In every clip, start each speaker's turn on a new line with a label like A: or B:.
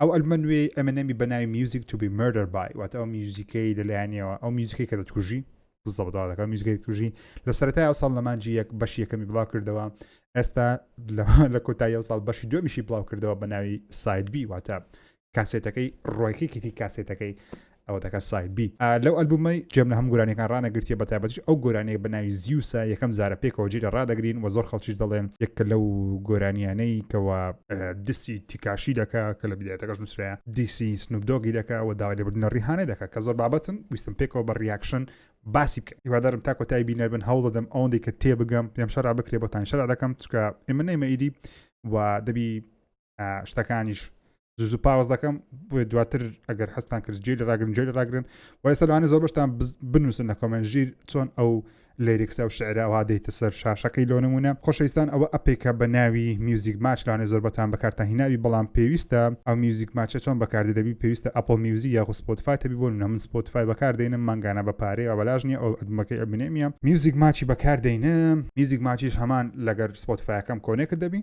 A: ئەو ئەلبمە نوێی ئەمێنێمی بە ناوی میوزیک تو بی مردەر بای واتە ئەو میوزیکەی لەلایەنەوە ئەو میوزیکەی کە دەتکوژی زەبداەکە میوزیکەی توژی لە سەرای ئەو ساڵ لەمانجی یەک بەش یەکەمی بڵاو کردەوە ئێستا لە کۆتایی ئەو ساڵ بەشی دومیشی بڵاو کردەوە بە ناوی سایدبی واتە کاسێتەکەی ڕۆیکێکیتی کاسێتەکەی ئەوە دەکات ساید بی لەو ئەلبومەی جێم لە هەم گورانیەکان ڕانەگرتیە بە تایبەتیش ئەو گۆرانیە بە ناوی زیوسە یەکەم جارە پێکەوە جێ لە ڕادەگرین و زۆر خەڵکیش دەڵێن یەکە لەو گۆرانیانەی کەەوە دیسی تیکاشی دەکا کە لە بدایەتەکەش نووسراە دیسی سنوبدۆگی دەکا و داوای لەبردنە ڕیحانە دەکە کە زۆر بابەتن ویستم پێکەوە بە ڕیاکشن باسی بکە هیوادارم تا کۆتایی بینەر بن هەوڵ دەدەم ئەوەندەی کە تێبگەم پێم شەرا بکرێ بۆتان شەرا دەکەم چکە ئێمە نەیمە ئیدی و دەبی شتەکانیش زوو پاوەز دەکەم بۆ دواتر ئەگەر هەستان کرد جێ لە ڕاگرن جێ لە ڕاگرن وای سەلوانە زۆر بەشتان بنووسن لە کۆمەن ژیر چۆن ئەو لێریکسە و شعرەوە دەیتە سەر شاشەکەی لۆ نمونە خۆشەویستان ئەوە ئەپێکە بە ناوی میوزیک ماچ لاانێ زۆر بەتان بەکارتان هیناوی بەڵام پێویستە ئەو میوزیک ماچە چۆن بەکاردی دەبی پێویستە ئەپل میوزی یاخ سپۆتفاای تەبی بۆ نەمن سپۆتفای بەکاردێنم مانگانە بە پارەیە بەلاژ نیە ئەو ئەدمەکەی ئەبنێمیە میوزیک ماچی بەکاردێنم میوزیک ماچیش هەمان لەگەر سپۆتفاەکەم کۆنێکت دەبی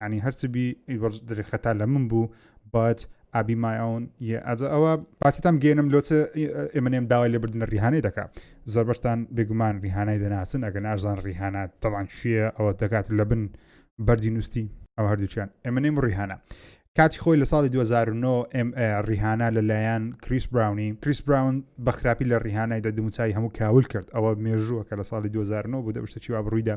A: یعنی هەرچ بی ئیوەڵ دەرێ خەتا لە من بوو بات ئابی مایون ئەجە ئەوە پاتیتان گەێنم لۆچە ئێمەێم داوای لێبردنە ریحانەی دەکا زۆر بەشتان بێگومان ریحانای دەناسن ئەگەن ئازان ریحانە تەوان چییە ئەوە دەکات لە بن بەری نووسی ئەو هەردووچیان ئێمەێم ریحانە کاتی خۆی لە ساڵی 2009 ریحانە لەلایەن کریس براونی کریس براون بە خراپی لە ریحانای دە دموچای هەموو کاول کرد ئەوە مێژووە کە لە ساڵی 2009 بوو دەشتە چیوا بڕوویدا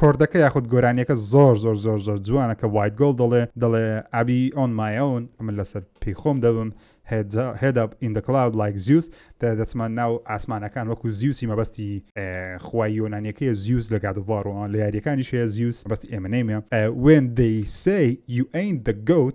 B: کۆردەکە یاخود
A: گۆرانیەکە زۆر زۆر زۆر زۆر جوانە کە وایت گۆڵ دەڵێ دەڵێ ئابی ئۆن مایەون ئەمە لەسەر پێی خۆم دەبم هێدا ئیندکلاود لایک زیوس دەچمان ناو ئاسمانەکان وەکو زیوسی مەبەستی خوای یۆنانیەکەی زیوس لە گادوواڕەوە لە یاریەکانی شەیە زیوس بەستی ئێمەنەیمە وێن دەیسەی یوئین دەگەوت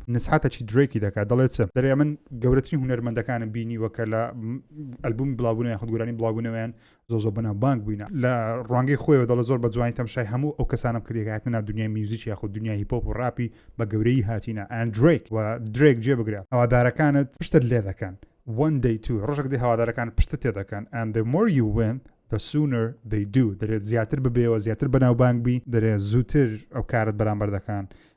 A: نسحاتەکی درەیکی دەکات دەڵێت چ دەرێ من گەورەترین هونەرمەندەکانم بینیوە کە لە ئەلبومی بڵاوبوونەوە یاخود گۆرانی بڵاوبوونەوەیان زۆ زۆ بەناو بانک بووینە لە ڕوانگەی خۆیەوە دەڵە زۆر بە جوانی تەمشای هەموو ئەو کەسانم کردی هاتنە ناو دنیای میوزیک یاخود دنیای هیپۆپ و ڕاپی بە گەورەیی هاتینە ئەن درەیک و درەیک جێ بگرە هەوادارەکانت پشتت لێ دەکەن one day two ڕۆژێک دێ هەوادارەکان پشتت تێ دەکەن and the more you win the sooner they do دەرێت زیاتر ببێەوە زیاتر بەناوبانگ بی دەرێت زووتر ئەو کارت بەرامبەر دەکەن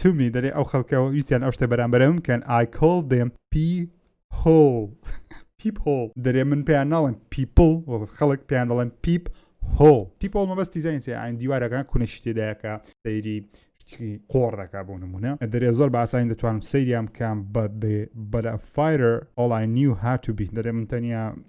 A: to me دەرێ ئەو خەڵکە ویستیان ئەو شتە بەرامبەرە من بکەن I call them people people دەرێ من پێیان ناڵێن people وەڵ خەڵک پێیان دەڵێن پیپ هۆ پیپۆڵ مەبەست دیزین ئاین دیوارەکان کونەشی تێدایەکە سەیری شتکی قۆڕ دەکا بۆ نمونە دەرێ زۆر باسانی دەتوانم سەیریان بکەم بە بەرە فایرر ئۆڵای نیو هاتوبی دەرێ من تەنیا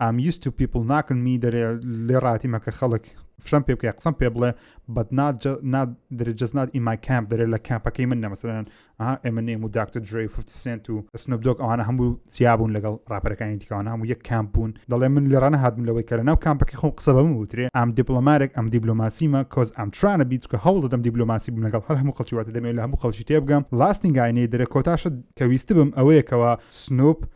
A: ئام یوست تو پیپل ناکنمی دەرێ لێ ڕاتیمە کە خەڵک فشەم پێ بکە قسم پێ بڵێ بەت درجەز نات ئیمای کامپ دەرێ لە کامپەکەی من نەمەسەرەن ئێمە نێم و داکتر درێ سنت و سنبدۆک ئەوانە هەموو سیابوون لەگەڵ ڕاپەرەکانی دیکەوان هەموو یەک کامپ بوون دەڵێ من لە ڕانە هاتم لەوەی کەرە ناو کامپەکەی خۆم قسە بەم وترێ ئەم دیپلۆمارێک ئەم دیبلۆماسیمە کۆز ئەم ترانە بیت کە هەوڵ دەدەم دیبلۆماسی بم لەگەڵ هەر هەموو خەڵکی واتە دەمێت لە هەموو خەڵکی تێبگەم لاستنگاینەی دەرە کۆتاشە کە ویست بم ئەوەیەکەوە سنوپ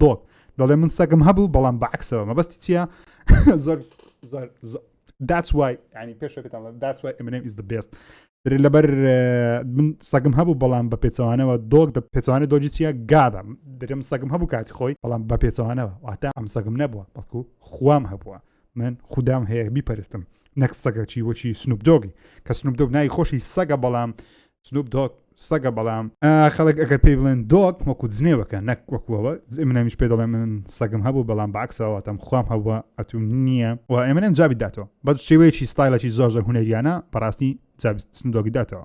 A: دۆڵ دەڵێ من سەگم هەبوو بەڵام بە عکسەوە مەبەستی چییە زۆر زۆر زۆر داچ وای ینی پێشەکەتان داچ وای ئەمنێم ئیز بێست لەبەر من سەگم هەبوو بەڵام بە پێچوانەوە دۆک دە پێچوانە دۆجی چیە گادەم درم سەگم هەبوو کاتی خۆی بەڵام بە پێچوانەوە واتا ئەم سەگم نەبووە بەڵکو خوام هەبووە من خوددام هەیە بیپەرستم نەک سەگەچی وەچی سنوبدۆگی کە سنوبدۆک نای خۆشی سەگە بەڵام سنوپ دۆگ سەگە بەڵام خەڵک ئەگەر پێی بڵێن دۆک وەکو جنێوەکە نەک وەکوەوە منەمیش پێ دەڵێ من سەگم هەبوو بەڵام باکسەوەتەم خۆم هەبووە ئەتوم نییە و ئێمەێن جابی داتەوە بە شێوەیەکی ستایلەکی زۆر زۆر هوەریانە بەڕاستی جابستندۆگی داتەوە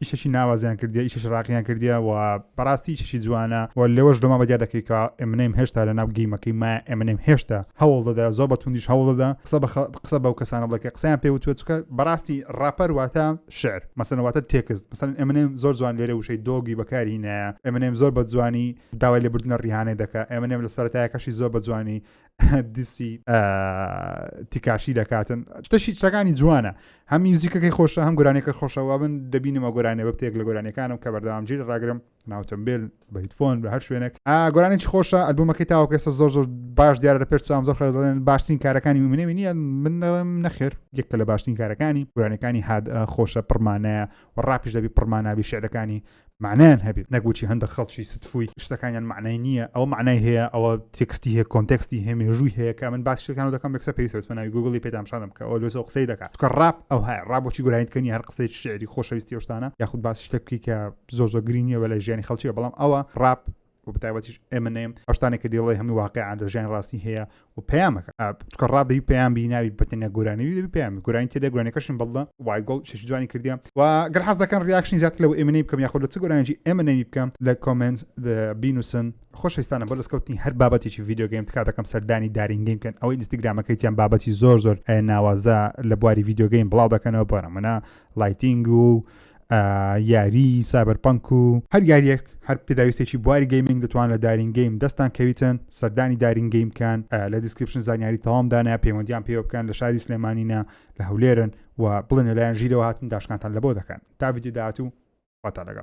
A: ئیشەکی ناوازەیان کردیە ئیشەکی ڕاقییان کردیە و بەڕاستی ئیشەکی جوانە و لەوەش دۆما بەدیا دەکەی کە ئەمنەیم هێشتا لە ناو گەیمەکەی ما ئەمنەیم هێشتا هەوڵ دەدا زۆر بە توندیش هەوڵ دەدا قسە بە قسە بەو کەسانە بڵێ کە قسەیان پێ وتوە چکە بەڕاستی ڕاپەر واتە شعر مەسەن واتە تێکست مەسەن ئەمنەیم زۆر جوان لێرە وشەی دۆگی بەکاری نایە ئەمنەیم زۆر بە جوانی داوای لێبوردنە ڕیهانەی دەکە ئەمنەم لە سەرتایەکەشی زۆر بە جوانی دیسی تیکاشی دەکاتن شتەشی شتەکانی جوانە هەم میوزیکەکەی خۆشە هەم گۆرانەکە خۆشەوە بن دەبینمە گۆرانێ بە بتێک لە گۆرانەکانم کە بەردەوام جیر ڕاگرم ناوتەمبیل بەیتفۆن بە هەر شوێنێک گۆرانێکی خۆشە ئەلبوومەکەی تاوکەسە زۆر زۆر باش دیارە لە پێر سام زۆر خەڵێن باشترین کارەکانی منێ نیە من نەخێر یەکە لە باشترین کارەکانی گۆرانەکانی هاد خۆشە پڕمانەیە و ڕاپیش دەبی پڕمانابی شعرەکانی مەعنایان هەبێت نەک وچی هەندە خەڵکی ستفوی شتەکانیان معنای نییە ئەو معنای هەیە ئەوە تێکستی هەیە کۆنتێکستی هەیە مێژووی هەیە کە من باس شتەکان دەکەم بەکسە پێویستە بە ناوی گوگڵی پێدامشادم کە ئەو لۆسەوە قسەی دەکات کە ڕاپ ئەو هەیە ڕابۆکی گورانیتکەنی هەر قسەی شعری خۆشەویستی شتانە یاخود باس شتەکی کە زۆر زۆر گرینیە بە لە ژیانی خەڵکیە بەڵام ئەوە ڕاپ و بەتایبەتیش ئەمنێم ئەشتانێک کە دێڵی هەمی واقعیان لە ژیان ڕاستی هەیە و پەیامەکە چکە ڕادی پەیام بیناوی بەتەنە گۆرانی دەبی پێیان گورانی تێدا گورانەکەشن بەڵدا وایگۆڵ شش جوانی کردیان و گەر حەز دەکەن ریاکشنی زیاتر لەو ئێمنەی بکەم یاخود لە چ گۆرانجی ئێمە نەوی بکەم لە کۆمنت بینوسن خۆشستانە بۆ دەستکەوتنی هەر بابەتێکی یددیوگەیم تکا دەکەم سەردانی دارینگەیم بکەن ئەوەی ئینستاگرامەکەیتیان بابەتی زۆر زۆر ناوازە لە بواری یددیوگەیم بڵاو دەکەنەوە بۆرە منە لایتینگ و یاری سابەر پەنک و هەر یاریەک هەر پێداویستێکی بواری گەیمنگ دەتوان لە دارین گەیم دەستان کەویتن سەردانی دارین گەیم بکەن لە دیسکرپشن زانیاری تەوامدانە پەیوەندیان پێوە بکەن لە شاری سلێمانینە لە هەولێرن و بڵێن لەلایەن ژیرەوە هاتن داشکانتان لە بۆ دەکەن تا ویدداات و واتە لەگەڵ